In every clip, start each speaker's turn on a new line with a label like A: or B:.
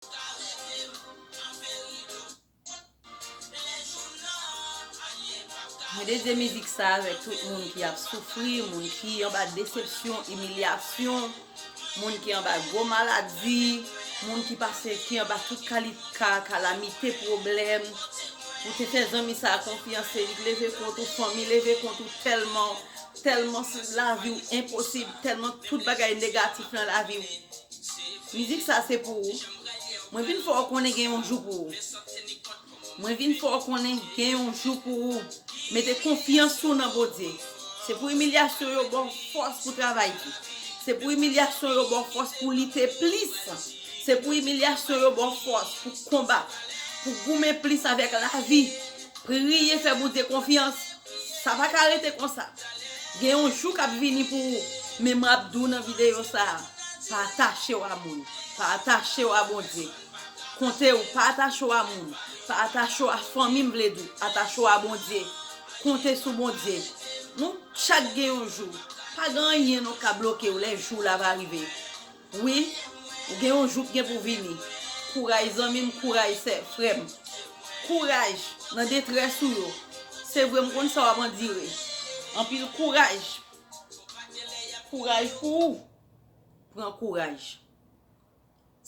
A: Ka reve m nan peri dout. Lè jou m nan, anyen p ap ka. Mwen dedye mizik sa avèk tout moun ki ap soufri, moun ki anba desepsyon, imilyasyon, moun ki anba gwo maladi, moun ki pase ki anba tout kalit ka, kalamite, pwoblèm. Ou te fè zanmi sa a konfyans e li t leve kont ou, fanmi leve kont ou tèlman, tèlman lavi w enposib, tèlman tout bagay negatif nan lavi w. Mizik sa se pou ou Mwen vin fè w konnen gen yon jou pou ou Mwen vin fè w konnen gen yon jou pou ou Mete konfyans ou nan Bondye Se pou imilyasyon yo ba w fòs pou travay pi Se pou imilyasyon yo ba w fòs pou lite plis Se pou imilyasyon yo ba w fòs pou konbat Pou goumen plis avèk lavi Priye fè Bondye konfyans Sa pa ka rete konsa. Gen yon jou kap vini pou ou. Men map di w nan videyo sa a, pa atache w a moun. Pa atache w a Bondye. Konte ou pa atache w a moun. Pa atache w a fanmi m vle di w. Atache w a Bondye. Konte sou Bondye. Nou chak gen yon jou. Pa gen anyen non kap bloke w lè jou w la va rive. Wi ou gen yon jou k gen pou vini kouraj zanmim kouraj sè frèm kouraj nan detrès ou yo se vre m konn sa wap andire anpil kouraj kouraj pou ou pran kouraj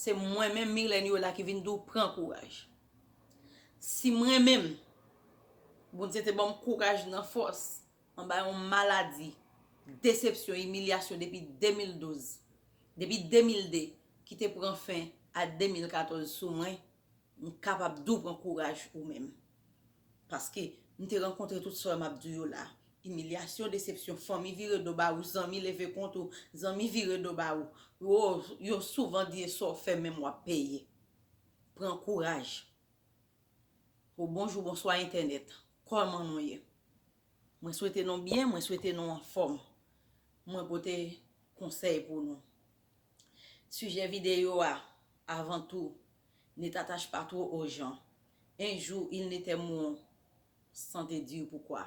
A: se mwen menm Myrlène Yola ki vin di w pran kouraj si mwen menm Bondye te banm kouraj nan fòs. Anba yon maladi desepsyon, imilyasyon depi 2012, depi 2002 ki te pran fen a 2014 sou mwen, m kapab di w pran kouraj ou menm. Paske, m te rankontre tout sa yo m ap di w yo la. Imilyasyon, desepsyon, fanmi vire do ba ou, zanmi leve kont ou, zanmi vire do ba ou. Yo souvan di e sa w fè menm w ap peye. Pran kouraj. Ho bonjou bonswa entènèt kòman nou ye mwen swete nou byen mwen swete nou anfòm mwen pote konsèy pou nou sijè videyo a avan tou ne t'attache pas trop aux gens un jour ils n'aiteront sans te dire pourquoi.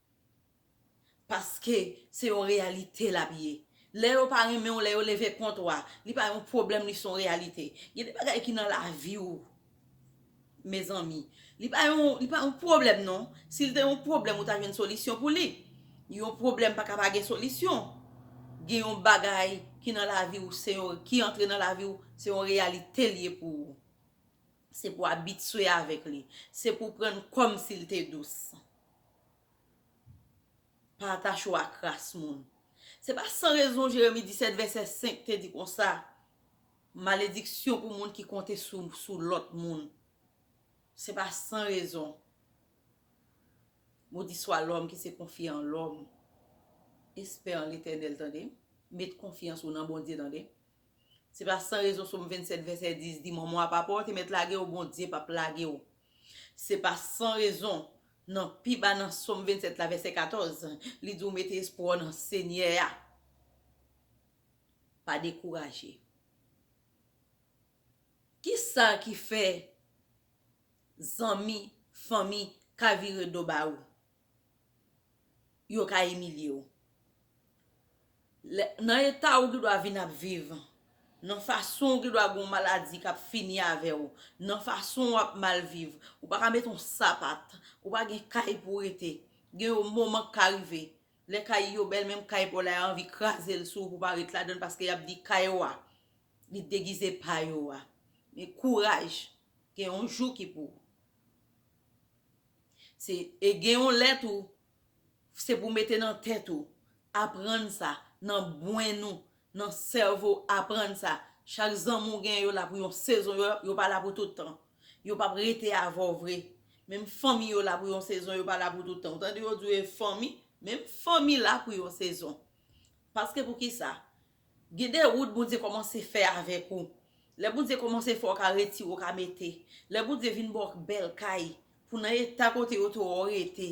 A: Paske se yon reyalite lap ye. Lè yo pa renmen w, lè yo leve kont ou a, li pa yon pwoblèm li son reyalite. Gen de bagay ki nan lavi w mezanmi, li pa yon li pa yon pwoblèm non. Si l te yon pwoblèm ou ta jwenn solisyon pou li. Yon pwoblèm pa ka pa gen solisyon. Gen yon bagay ki nan lavi w se yon ki antre nan lavi w se yon reyalite li ye pou ou. Se pou abitye avèk li. Se pou pran l kòmsi l te dous. Pa atache w ak ras moun. Se pa san rezon Jeremi 17 vèsè 5 te di konsa, Malediksyon pou moun ki konte sou lòt moun. Se pa san rezon. Modiswa lòm ki se konfye an lòm, espè an Letènèl tande. Met konfyans ou nan Bondye tande. Se pa san rezon Som 27 vèsè 10 di, Mòmon a pa pè w, te mèt lage w, Bondye p ap lage w. Se pa san rezon, nan pi ba nan Sòm 27 la, vèsè 14, li di w mete espwa w nan Senyè a. Pa dekouraje. Ki sa ki fè zanmi, fanmi ka vire do ba ou? yo ka imilye w. Nan eta ou gendwa vin ap viv, nan fason ou gendwa gen yon maladi k ap fini avè w, nan fason w ap mal viv, ou pa ka met yon sapat, ou pa gen kay pou w rete. Gen yon moman k ka rive, lè kay yo bèl menm kay pa w la y a anvi kraze l sou ou pou w pa ret ladan l paske y ap di kay ou a li degize pa yo a. Men kouraj, gen yon jou ki pou ou. Se e gen yon lè tou se pou mete nan tèt ou aprann sa nan bwen nou nan sèvo aprann sa chak zanmi w gen yo la pou yon sezon yo pa la pou tout tan yo p ap rete avè w vre menm fanmi yo la pou yon sezon yo pa la pou tout tan ou tande yo di w e fanmi menm fanmi la pou yon sezon paske pou kisa Gen de wout Bondye kòmanse fè avèk ou. Lè Bondye kòmanse fè w ka retire w ka mete. Lè Bondye vin ba w bèl kay pou nan eta kote yo te wè w rete.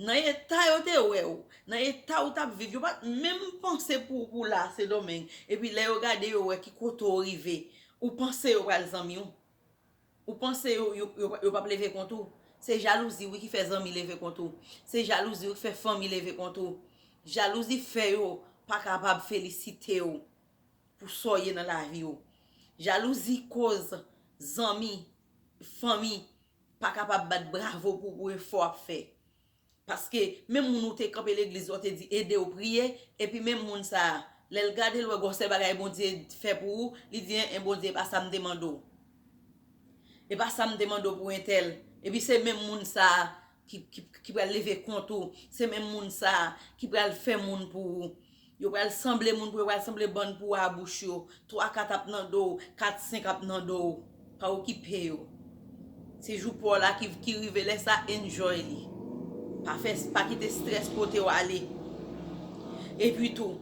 A: Nan eta yo te wè w. Nan eta ou t ap viv. Yo pa t menm panse pou ou pou w la a Sendomeng. Epi lè yo gade yo wè ki kote w rive. Ou panse yo pral zanmi w. Ou panse yo pap leve kont ou. Se jalouzi wi ki fè zanmi leve kont ou. Se jalouzi wi ki fè fanmi leve kont ou. Jalouzi fè yo pa kapab felisite w pou sa w ye nan lavi w. Jalouzi koz zanmi, fanmi pa kapab bat bravo pou w pou efò w ap fè. Paske menm moun ou te kanpe legliz la ou te di ede ou priye epi menm moun sa lèl gade l wè gwo sèl bagay Bondye fè pou ou li di en en Bondye epa sam te mande w epa sam te mande w pou entèl epi se menm moun sa ki pral leve kont ou se menm moun sa ki pral fè moun pou ou. Yo pral sanble moun pou yo pral sanble bann pou wa bouch yo, 3 4 ap nan do w, 4 5 ap nan do w, pa okipe yo. Se jou pa w la ki rive lè sa enjoy li. Pa fè pa kite strès pote w ale. Epi tou,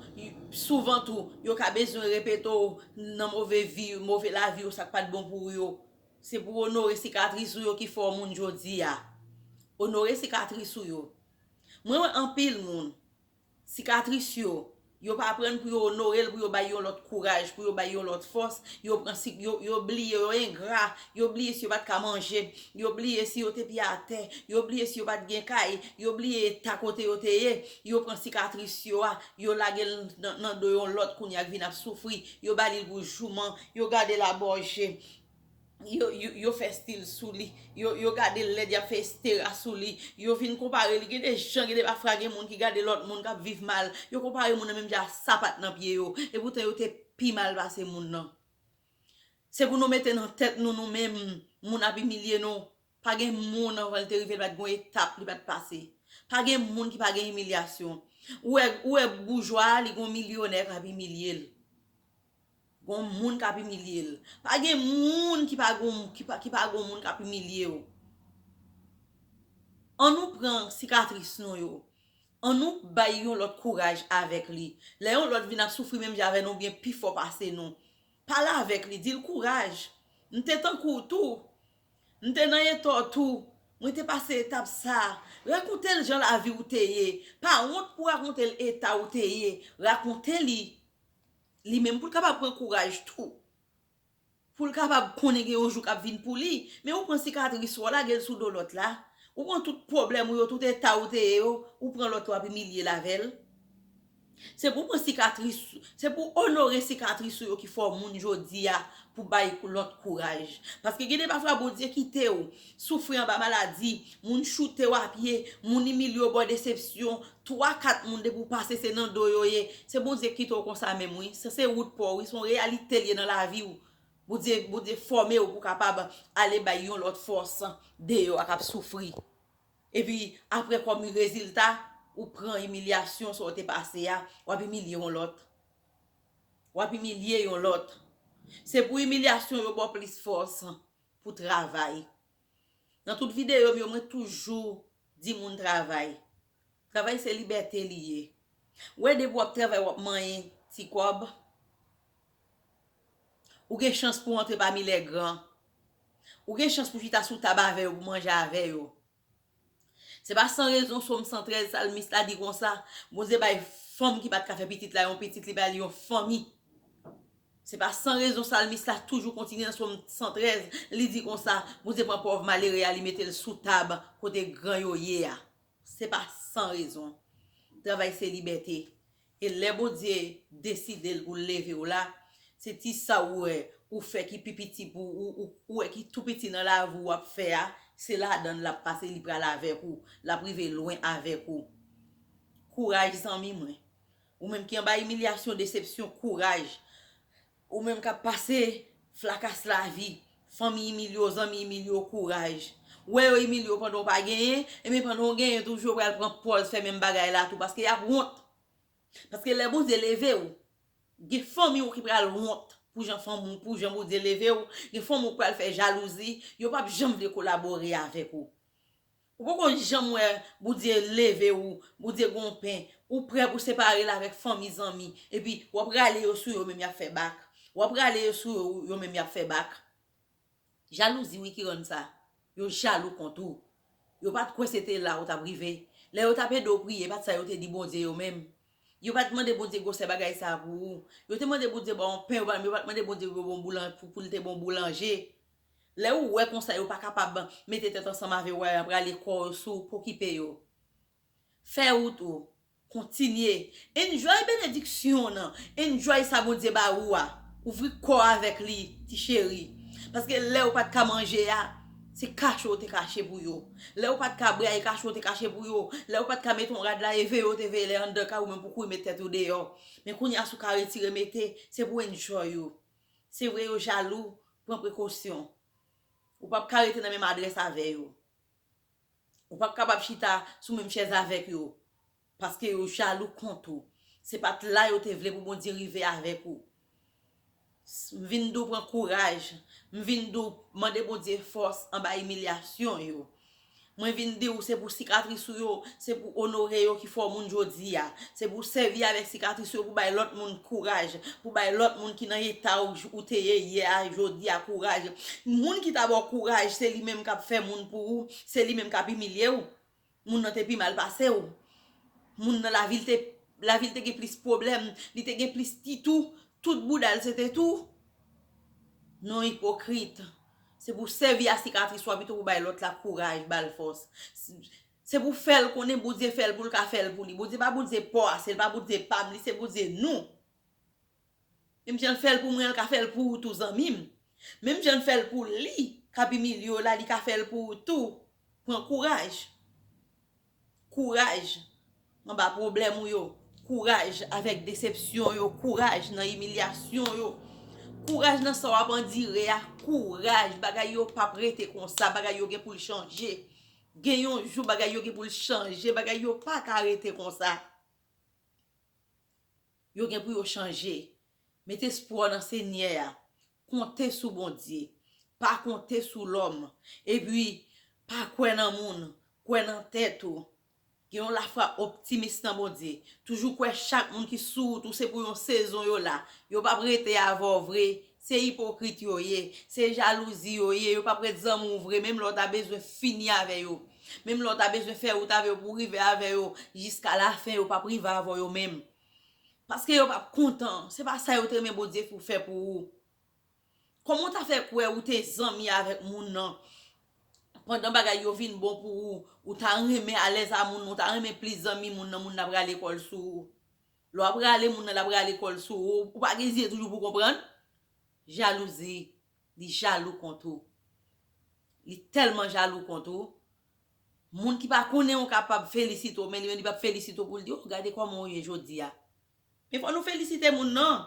A: souvan tou, yo ka bezwen repete w nan move vi, move lavi yo sa k pat bon pou yo. Se pou w onore sikatris ou yo ki fè w moun jodi a. Onore sikatris ou yo. Mwen wè anpil moun Sikatris yo, yo pa aprann pou yo onore l, pou yo bay yon lòt kouraj, pou yo bay yon lòt fòs, yo pran si, yo bliye, yo engra, yo bliye si yo pa t ka manje, yo bliye si yo te pye atè, yo bliye si yo pa t gen kay, yo bliye eta kote yo te ye, yo pran sikatris yo a, yo lage l nan do yon lòt kounye a k vin ap soufri, yo ba li l pou jouman, yo gade l abòje. yo fè stil sou li, yo gade l lèd y ap fè estera sou li, yo vin konpare li, gen de jan gen de bafra gen moun ki gade lòt moun k ap viv mal, yo konpare moun nan menm jan a sapat nan pye yo, epoutan yo te pi mal pase moun nan. Se pou nou mete nan tèt nou nou menm moun ap imilye nou, pa gen moun anvan l te rive l pa t gen yon etap li pa t pase, pa gen moun ki pa gen imilyasyon, ou wè boujwa a li gen yon milyonè k ap imilye l, Gon moun kap imilye l. Pa gen moun ki pa gon ki pa gon moun kap imilye yo. An nou pran sikatris nou yo. An nou bay yon lòt kouraj avèk li. Lè yon lòt vin ap soufri menm jan avè nou oubyen pi fò pase nou. Pale avèk li di l kouraj. M te tankou w tou. M te nan eta w tou. Mwen te pase etap sa. Rakonte l jan lavi w te ye. Pa wont pou rakonte l eta w te ye. Rakonte li. li menm pou l kapab pran kouraj tou pou l kapab konnen gen yon jou k ap vin pou li men ou pran sikatris ou a lage l sou do lòt la ou pran tout pwoblèm ou yo tout eta ou te ye yo ou pran lòt la w ap imilye l avè l se pou w pran sikatris se pou w onore sikatris ou yo ki fè w moun jodi a pou bay lòt kouraj paske gen de pafwa Bondye kite w Soufri anba maladi, moun choutew a pye, moun imilye w bò desepsyon, 3 4 moun depi w pase se nan do yo ye, se Bondye k kite w konsa menm wi, sa se wout paw wi, son reyalite l ye nan lavi w, Bondye Bondye fòme w pou w kapab ale bay yon lòt fòs deyò a kap soufri. Epi aprè kòm rezilta ou pran imilyasyon sa w te pase a, wap imilye yon lòt. Wap imilye yon lòt. Se pou imilyasyon yo baw plis fòs. pou travay nan tout videyo m yo mwen toujou di moun travay travay se libète li ye ou wè depi w ap travay w ap manyen ti kòb ou gen chans pou w antre pami lègran ou gen chans pou w chita sou tab avè yo pou w manje avè yo. Se pa san rezon Som 113 salmis la di konsa, Bondye bay fanm ki pa t ka fè pitit la yon pitit, li bay li yon fanmi. Se pa san rezon salmis la toujou kontinye nan Som 113, li di konsa, Bondye pran pòv malere a li mete l sou tab kote gran yo ye a. Se pa san rezon. Travay se libète. E lè Bondye desidel poul levew la se ti sa ou wè ou fè ki pi piti pou ou ou wè ki tou piti nan lavi ou wap fè a se ladann lap pase li pral avèk ou lap rive lwen avèk ou kouraj zanmi mwen ou menm ki anba imilyasyon desepsyon kouraj Ou menm kap pase flakas lavi fanmi Emilio zanmi Emilio kouraj ou wè yo Emilio pandan w pa genyen ebyen pandan w genyen toujou yo pral pran pòz fè menm bagay la tou paske yap wont paske lè Bondye leve w gen fanmi w ki pral wont pou jan fanmi w pou jan Bondye leve w gen fanmi w ki pral fè jalouzi yo pap janm vle kolabore avèk ou Ou poko janm wè Bondye leve ou, Bondye gen yon pen, ou prè pou separe la avèk fanmi zanmi, epi wap rale yo sou yo menm yap fè bak, wap rale yo sou yo yo menm yap fè bak. Jalouzi wi ki rann sa, yo jalou kont ou, yo pat kwè se te la ou tap rive, lè yo tap ede w priye e pat sa yo te di Bondye yo menm, yo pat mande Bondye gwosè bagay sa pou ou, yo te mande Bondye ba w yon pen yo pat mande Bondye pou yo ba w yon boulanje. Lè ou wè konsa yo pa kapab mete tèt ansanm ave wè yap rale kò yo sou ou pokipe yo fè rout ou kontinye enjoy benediksyon nan enjoy sa Bondye ba ou a ouvri kò avèk li ti cheri paske lè ou pat ka manje a se kache ou te kache pou yo lè ou pat ka bwè a e kache ou te kache pou yo lè ou pat ka mete yon rad la e veye ou te veye lè anndan kay ou menm pou kouri met tèt ou deyò men kounya si ou ka retire mete se pou enjoy ou. Se vre yo jalou, pran prekosyon. Ou pap ka rete nan menm adrès avè yo. Ou pap kapab chita sou menm chèz avèk yo. Paske yo jalou kont ou. Se pat la yo te vle pou Bondye rive avèk ou. M vin di w pran kouraj. M vin di w mande Bondye fòs anba imilyasyon yo. Mwen vin di w se pou sikatris ou yo, se pou onore yo ki fè w moun jodi a. Se pou w sèvi avèk sikatris ou yo pou bay lòt moun kouraj, pou bay lòt moun ki nan eta w ou te ye yè a, jodi a kouraj. Moun ki ta ba w kouraj se li menm k ap fè moun pou ou, se li menm k ap imilye w. Moun nan te pi mal pase w. Moun nan lavi l te, lavi l te gen plis pwoblèm, li te gen plis ti tou, tout bouda l se te tou. Non ipokrit. Se pou w sèvi a sikatris ou a pito pou w bay lòt la kouraj, ba l fòs. Se pou w fè l konnen Bondye fè l pou l ka fè l pou li. Bondye pa Bondye paw ase, li pa Bondye pa m, li se Bondye nou. Menm jan l fè l pou mwen, l ka fè l pou ou tou zanmi m. Menm jan l fè l pou li k ap imilye w la, li ka fè l pou ou tou. Pran kouraj. Kouraj anba pwoblèm ou yo. Kouraj avèk desepsyon yo. Kouraj nan imilyasyon yo. Kouraj nan sa w ap andire a. Kouraj bagay yo pap rete konsa. Bagay yo gen pou l chanje. Gen yon jou bagay yo gen pou l chanje. Bagay yo pa ka rete konsa. Yo gen pou yo chanje. Met espwa w nan Senyè a. Konte sou Bondye. Pa konte sou lòm. Epi, pa kwè nan moun. Kwè nan tèt ou. Gen yon lafwa optimis nan Bondye. Toujou kwè chak moun ki sou wout ou se pou yon sezon yo la. Yo p ap rete avè w vre. Se ipokrit yo ye, se jalouzi yo ye, yo pap ret zanmi w vre menm lè w ta bezwen fini avè yo, menm lè w ta bezwen fè wout avè yo pou w rive avè yo jiska lafen yo pap rive avè w yo menm. Paske yo pap kontan, se pa sa yo te renmen Bondye pou fè pou ou. Kòman w ta fè kwè ou te zanmi avèk moun nan pandan bagay yo vin bon pou ou, ou ta renmen alèz a moun nan, ou ta renmen plis zanmi moun nan, moun nan pral lekòl sou ou. Lè w ap rale moun nan l ap rale kò l sou ou, ou pa gen zye toujou pou w konprann? Jalouzi, li jalou kont ou. Li tèlman jalou kont ou, moun ki pa konnen w kapab felisite w men li menm li p ap felisite w pou l di w, oh gade kòman w ye jodi a. Men fò nou felisite moun non!